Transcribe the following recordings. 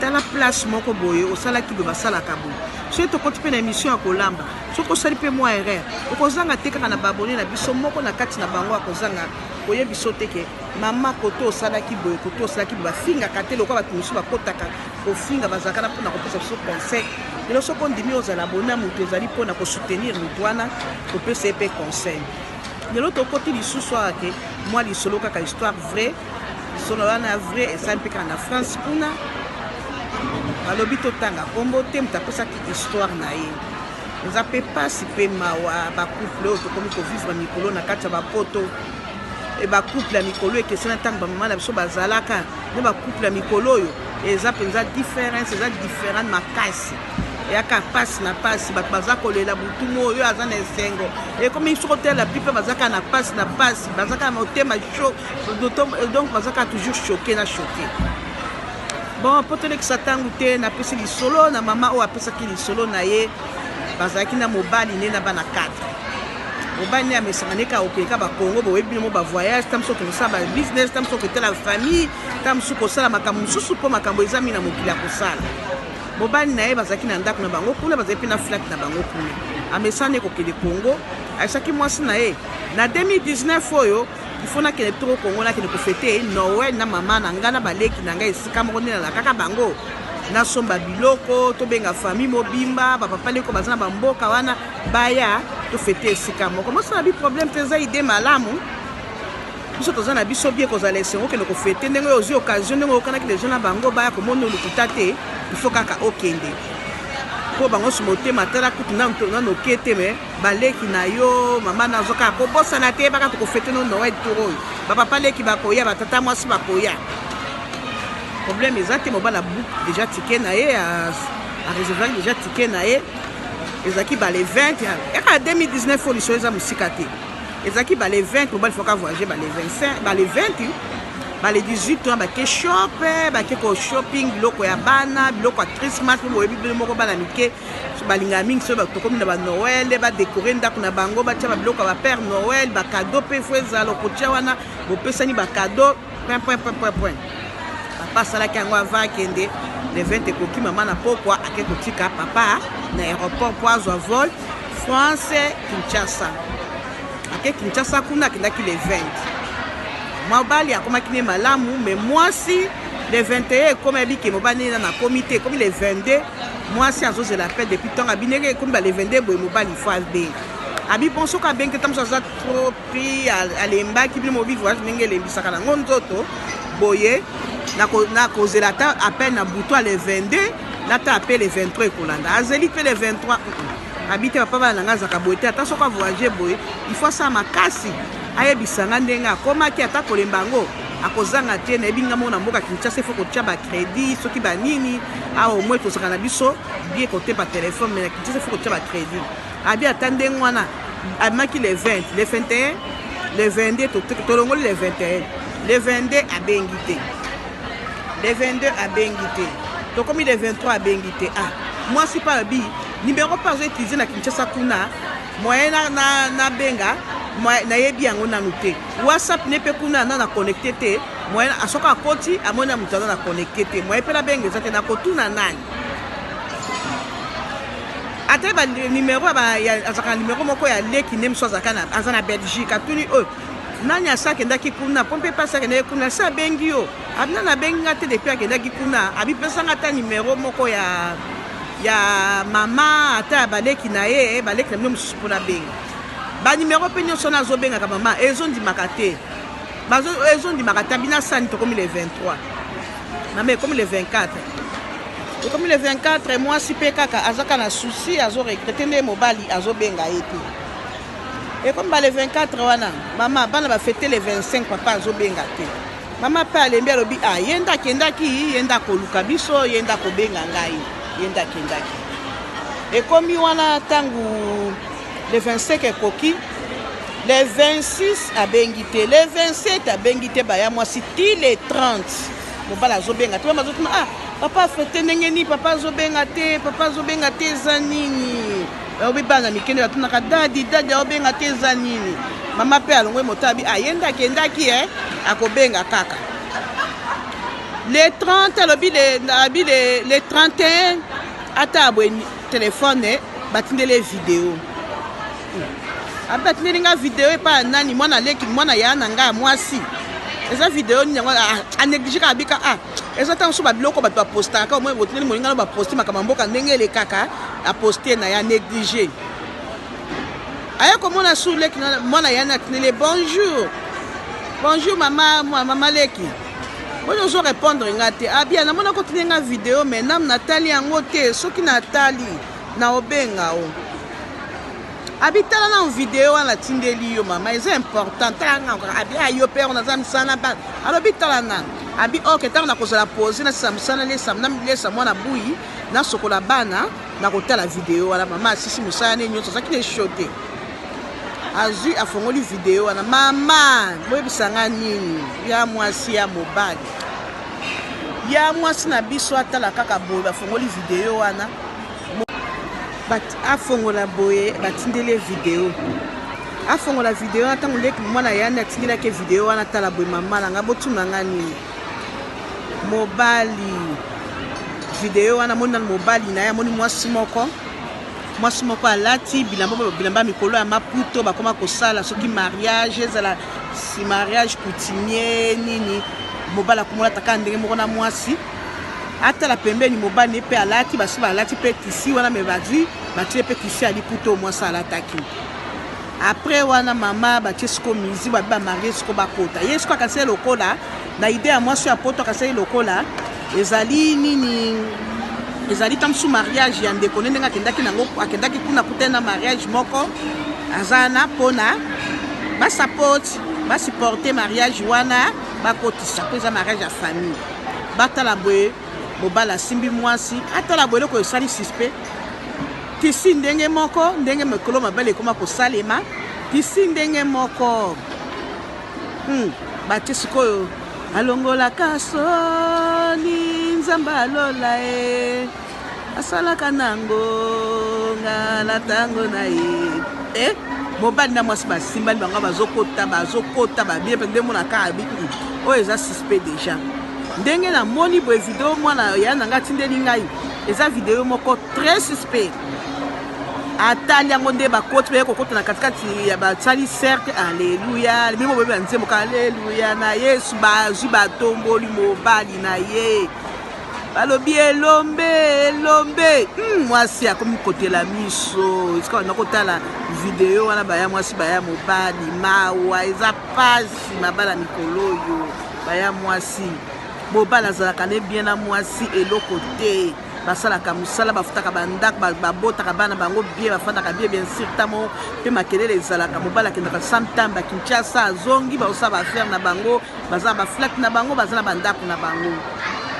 tala place moko boye osalaki boye basalaka boye soki tokoti mpe na émission ya kolamba soki osali mpe mwa erreur okozanga te kaka na babone na biso moko na kati na bango akozanga koye biso te ke mama koto osalaki boye koto osalaki boye bafingaka te lokola bato mosusu bakotaka kofinga bazalaka na mpona kopesa biso conseil lelo soki ondimi ozala bona moto ezali mpona kosoutenir moto wana kopesa ye mpe conseil lelo tokoti lisusu awa ke mwa lisolo kaka histoire vrai Lisolo wana ya vrai esali mpe kaka na France kuna balobi totanga nkombo te moto apesaki histoire na ye eza mpe mpasi mpe mawa bacouple oyo tokomi kovivre mikolo na kati ya bapoto e bacouple ya mikolo ekesena ntango bamama na biso bazalaka nde bacouple ya mikolo oyo eza mpenza difference eza different makasi eyaka mpasi na mpasi bato baza kolela butu mo oyo aza na esengo ekomi soki otelela pipe bazaka na mpasi na mpasi bazaka na motema sho donc baza kaka toujours choke na choke bon mpo tolekisa ntango te napesi lisolo na mama oyo apesaki lisolo na ye bazalaki na mobali nde na bana 4 mobali nde amesaka nde kaka okeka bakongo boyebi bino mo bavoyage ta mosusu kosala babusiness ta mosusu koketala famille ta mosusu kosala makambo mosusu mpo makambo eza mingi na mokili ya kosala mobali na ye bazalaki na ndako na bango kuna bazali mpe na flate na bango kuna amesana nde kokende kongo ayesaki mwasi na ye na 2019 oyo il faut nakende bitoko kongo nakende kofete noel na mama na ngai na baleki na ngai esika moko nde nalalakaka bango nasomba biloko tobenga famille mobimba bapapa ndeko baza na bamboka wana baya tofete esika moko mosala bi problème te eza ide malamu biso toza na biso bie kozala esengo okende kofete ndenge oyo ozwi occasion ndenge oyokanaki deja na bango baya komona olukuta te il faut kaka okende mpo bango nso motema tala kutu nanoke te mais ba leki na yo mama na zoka ko bosana te baka toko fete no Noël tour oyo ba papa leki ba koya ba tata mwasi ba koya problème eza te mobala book déjà ticket na ye a réserver déjà ticket na ye ezaki ba le 20 ya ka 2019 fo liso eza musika te ezaki ba le 20 mobali fo ka voyager ba le 25 ba le 20 ba le 18 ans ba ke shop ba ke ko shopping biloko ya bana biloko ya Christmas mboyebi bino moko bana mike balingaka mingi soki tokomi na banoel badekore ndako na bango batya babiloko ya bapere noel bakado mpe fo ezala okotya wana bopesani bakado pwepwepwepwepwe papa asalaki yango ava akende le 20 ekoki mama na pokwa ake kotika papa na aéroport mpo azwa vol france kinshasa ake kinshasa kuna akendaki le 20 mobali akomaki ne malamu me mwasi le 21 ekomi abike mobali nena nakomi te ekomi le 22 Mwasi azozela appel depuis temps abineke ekomi ba le 22 boye mobali faut abenga. Abi bon soki abengi ntango mosusu aza trop pris alembaki bino mobi voyage ndenge elembisaka nango nzoto boye nakozela ata appel na butu ale 22 nata appel le 23 ekolanda azeli mpe le 23 Abi te papa bana na ngai azalaka boye te, ata soki avoyage boye il faut asala makasi ayebisa ngai ndenge akomaki, ata kolemba yango akozanga te. Nayebi ngai moko na mboka Kinshasa il faut kotya ba credit soki ba nini awa au moins tozalaka na biso bien kote ba telefone, mais na Kinshasa il faut kotya ba credit. Abi ata ndenge wana abimaki le 20 le 21 le 22 tolongoli le 21 le 22 abengi te le 22 abengi te tokomi le 23 abengi te ah mwasi mpe abi Numero pe azo utiliser na Kinshasa kuna moyen na, na, na benga nayebi yango nanu te whatsapp ne mpe kuna na na connecte te moyen asoki akoti amoni na moto aza na connecte te moyen mpe nabenga eza te nakotuna nani ata banimero azalaka na nimero moko ya leki nde mosusu aza na belgique atuni oyo nani asi akendaki kuna mpo mpe mpasi akendaki kuna asi abengi yo Abna na bengi nga te depuis akendaki kuna abi pesa nga ta numero moko ya ya mama ata ya baleki na ye baleki na bino mosusu mpo nabenga banimero mpe nyonso wana azobengaka mama ezondimaka te ezondimaka te abina sani tokomi le 23 mama ekomi le 24 ekomi le 24 mwasi mpe kaka azaka na souci azoregrete nde mobali azobenga ye te ekomi ba le 24 wana mama bana bafete le 25 papa azobenga te Mama pe alembi alobi ah ye nde akendaki ye nde akoluka biso ye nde akobenga ngai ye nde akendaki ekomi wana ntango le 25 ekoki le 26 abengi te le 27 abengi te baya mwasi ti le 30 mobala azobenga te mama azotuna ah papa fete ndenge nini papa azobenga te papa azobenga te eza nini Bayobi bana mike nde batunaka dadi dadi aobenga te eza nini mama mpe alongwe motabi aye nde akendaki e akobenga kaka le 30 alobi abi le 31 ata abwe telefone batindeli ye video abi batindeli nga video epai ya nani mwana leki mwana ya na ngai ya mwasi eza video nini yango aneglige kaka bika a eza ntango mosusu babiloko bato bapostaka kaka omoi botineli moninga no baposte makambo ya mboka ndenge elekaka aposte na ya néglige aye komona su leki mwana yani atineli ye bonjour bonjour mama mama leki oyo ozo répondre nga te abia ah, namona kotine nga video mais nam natali yango te soki natali na obenga o Abi tala nanu video wana natindeli yo mama eza important tala nanu kaka abi ah, yo père naza mosala na bana alobi tala nanu abi ok ntango nakozala pose nasisa mosala nalesa mwana buyi nasokola bana nakotala video wana mama asisi mosala ne nyonso azalaki na esho te azwi afongoli video wana mama boyebisa nga nini ya mwasi ya mobali ya mwasi na biso atala kaka boye bafongoli video wana afongola boye batindeli ye video afongola video wana ntango ndeki mwana yandi atindelaki ye video wana tala boye mama na ngai botuna ngai nini mobali video wana amoni nano mobali na ye amoni mwasi moko mwasi moko alati bilamba bilamba mikolo ya maputo bakoma kosala soki mariage ezala si mariage coutumier nini mobali akomolata kaka ndenge moko na mwasi atala pembeni mobali ne mpe alati basusu balati mpe tisi wana me bazwi batie mpe tisi ya liputa oyo mwasi alataki apres wana mama batie siko mizi babi bamarie siko bakota ye siko akanisaki lokola na ide ya mwasi ya poto akanisaki lokola ezali nini ezali ta mosusu mariage ya ndeko ne ndenge akendaki nango akendaki kuna kutani na mariage moko aza wana mpona basapoti basupporte mariage wana bakotisa mpo eza mariage ya famille batala boye mobali asimbi mwasi atala boye eloko esali suspect tisi ndenge moko ndenge mikolo mabele ekoma kosalema tisi ndenge moko hmm. batie sikoyo alongolaka soni nzambe alola e asalaka na ngonga na ntango na ye e mobali na mwasi basimbani bango bazokota bazokota babie mpe nde monaka abi hmm, oyo eza suspect déjà ndenge namoni boye video mwana ya na ngai atindeli ngai eza video moko très suspect atali yango nde bakoti baye kokota na katikati ya basali cercle aleluya bimo boyebi ya nzembo ka aleluya na yesu bazwi batomboli mobali na ye balobi elombe elombe hmm, mwasi akomi kotela miso esika banda kotala video wana baya mwasi baya mobali mawa eza pasi mabala mikolo oyo baya mwasi mobali azalaka ne bien na mwasi eloko te basalaka mosala bafutaka bandako babotaka bana bango bie bafandaka bie bien sur tamo mpe makelele ezalaka mobali akendaka santamba kinshasa azongi baosala baaffaire na bango Baza ba flat na bango baza na ba ndaku na bango.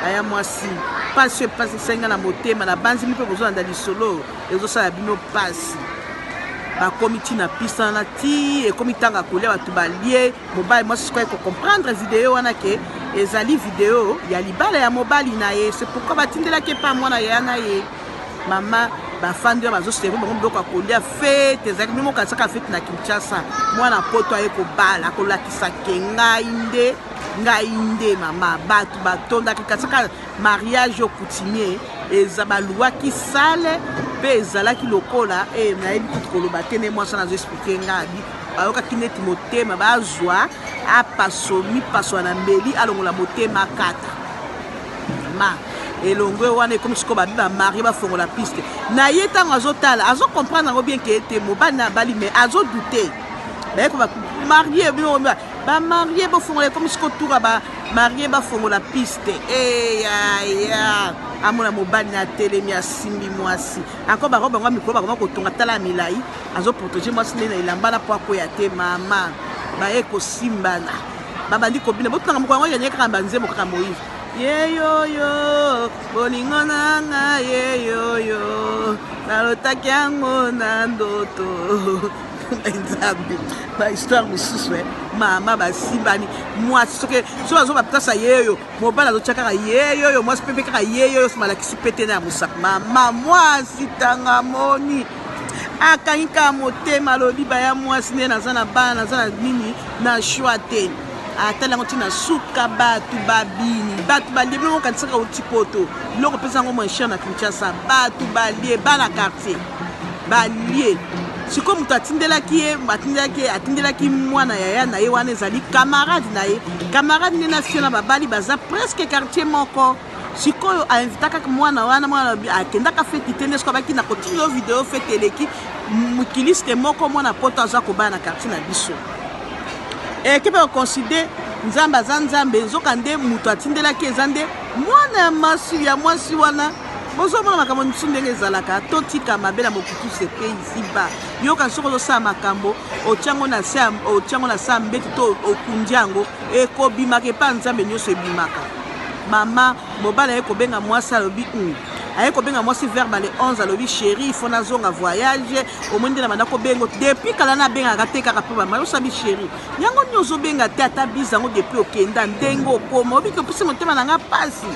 Aya mwasi pasi pasi senga na motema na banzi mpe bozolanda lisolo ezosala bino pasi. bakomi ti na piste wana ti ekomi ntango ya kolia bato balie mobali mwasi sikoyo ekocomprendre video wana ke ezali video ya libala ya mobali na ye se pourkui batindelaki epa mwana ya na ye Mama bafandi wana bazo servir bango biloko ya kolia fete ezalaki bino mokanisaka fete na kinshasa mwana poto aye kobala kolakisa ke ngai nde ngai nde mama bato batondaki kasaka mariage o coutumier eza baluwaki sale mpe ezalaki lokola e nayebi kutu koloba te nde mwasi wana azo explike ngai abi bayokaki neti motema bazwa apaso mipaso na mbeli alongola motema kata ma elongue wana ekomi sikoyo babi bamarie bafongola piste na ye ntango azotala azocomprendre yango bien ke ete mobali na abali mais azodoute bayeko bamarie bino bamarie bofongola ekomi sikoyo tura bamarie bafongola piste eyaya eh, amona mobali na atelemi asimbi mwasi ako bako bango mikolo bakoma kotonga tala milai azoprotege mwasi nde na elamba na mpo akwea te mama baye kosimbana babandi kobina botanga mokolo yango yanye kaka banzembo kaka moyive yeyoyo bolingo na nga yeyoyo nalotaki yango na ndoto nzambe bahistoire mosusu e mama basimbani mwasi soki soki azoba mpasa yeyo mobali azotya kaka yeyoyo mwasi mpe mpe kaka yeyoyo somalakisi mpe te na ya mosapi mama mwasi tanga moni akangi kaka motema alobi baya mwasi nde naza na bana naza na nini na choix te atali yango ntina suka bato babini bato balie biloko okanisaka outi poto biloko mpeza yango moins cher na kinshasa bato balie bana quartier balie sikoyo moto atindelaki ye atindelaki ye atindelaki mwana yaya na ye wana ezali camarade na ye camarade nde na fio na babali baza presque quartier moko sikoyo a invitaka mwana wana mwana lobi akendaka feti te nde siko abaki na kotili yo video feti eleki mokiliste moko mwana poto aza kobala na quartier na biso ekebe okonside nzambe aza nzambe nzoka nde moto atindelaki eza nde mwana ya masi ya mwasi wana bozomona makambo mosusu ndenge ezalaka totika mabe na mokutu sepe isiba yoka soki ozosala makambo otyango na se otyango na se ya mbeto to okundi yango Ekobimaka epa nzambe nioso ebimaka mama mobali aye kobenga mwasi alobi um aye kobenga mwasi vers bale 11 alobi chéri ifo nazonga voyage omoni nde na banda kobengo depuis kala nabengaka te kaka mpo bamai osabi chéri yango nini ozobenga te ata biza yango depuis okenda ndenge okoma obiki opesi motema na ngai mpasi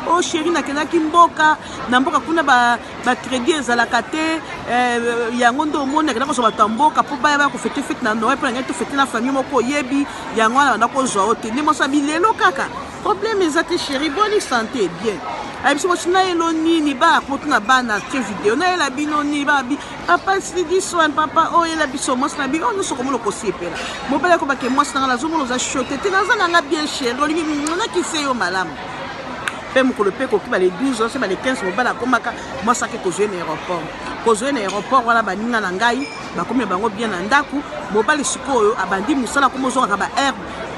o oh, chéri nakendaki mboka na mboka kuna ba ba credit ezalaka te euh, yango nde omoni akenda kozwa bato ya mboka mpo baya baya kofete fete na noel mpo nangai tofete na famille moko oyebi yango wana banda kozwa yo te nde mwasi abi lelo kaka problème eza te chéri boni santé bien ayebisi mwasi na yelo nini baya kotu na bana te video nayela bino nini babi papa sidiswan papa oyo oh, yela biso mwasi na bino oyo oh, nyonso okomona okosepela mobali akobake mwasi na ngai nazomona oza shote te naza na ngai bien chéri olingi nakise yo malamu mpe mokolo mpe ekoki bale 12 se bale 15 mobali akomaka mwasi ake kozwa ye na aéroport kozwa ye na aéroport wana baninga na ngai bakomi na bango bien na ndako mobali sikoyo abandi mosala komi ozongaka ba aire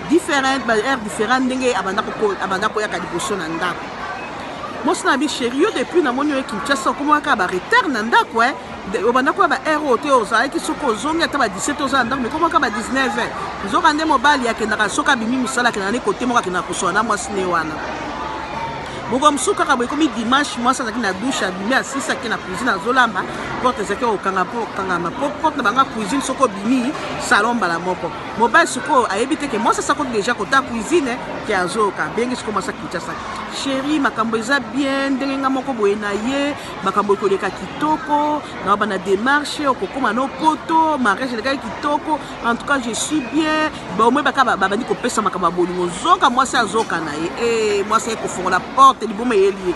different ba aire différent ndenge abanda koyaka liboso na ndako mwasi na bi sheri yo depuis namoni oye kinshasa okomaka ba retard na ndako e eh? obanda koya ba heure oyo te ozalaki soki ozongi ata ba 17 oza na ndako mekomaka ba 19 heure nzoka nde mobali akendaka soki abimi mosala akendaka nde kote moko akendaka kosola na mwasi ne wana moko mosusu kaka boye ekomi dimanche mwasi azalaki na dushe abimi asisi ake na cuisine azolamba porte ezalaki kokanga mpo okangama mpo porte na banga cuisine soki obimi salon mbala moko mobali sikoyo ayebi te ke mwasi asakoti deja kota cuisine ke azoyoka bengi sikoyo mwasi akinshasa sheri makambo eza bien ndenge nga moko boye na ye makambo ekoleka kitoko na bana demarche okokoma no poto mariage elekaki kitoko en tout cas je suis bien baomoi baka babandi kopesa makambo ya bolingo zoka mwasi azoka na ye e mwasi aye kofongola porte liboma eyeli ye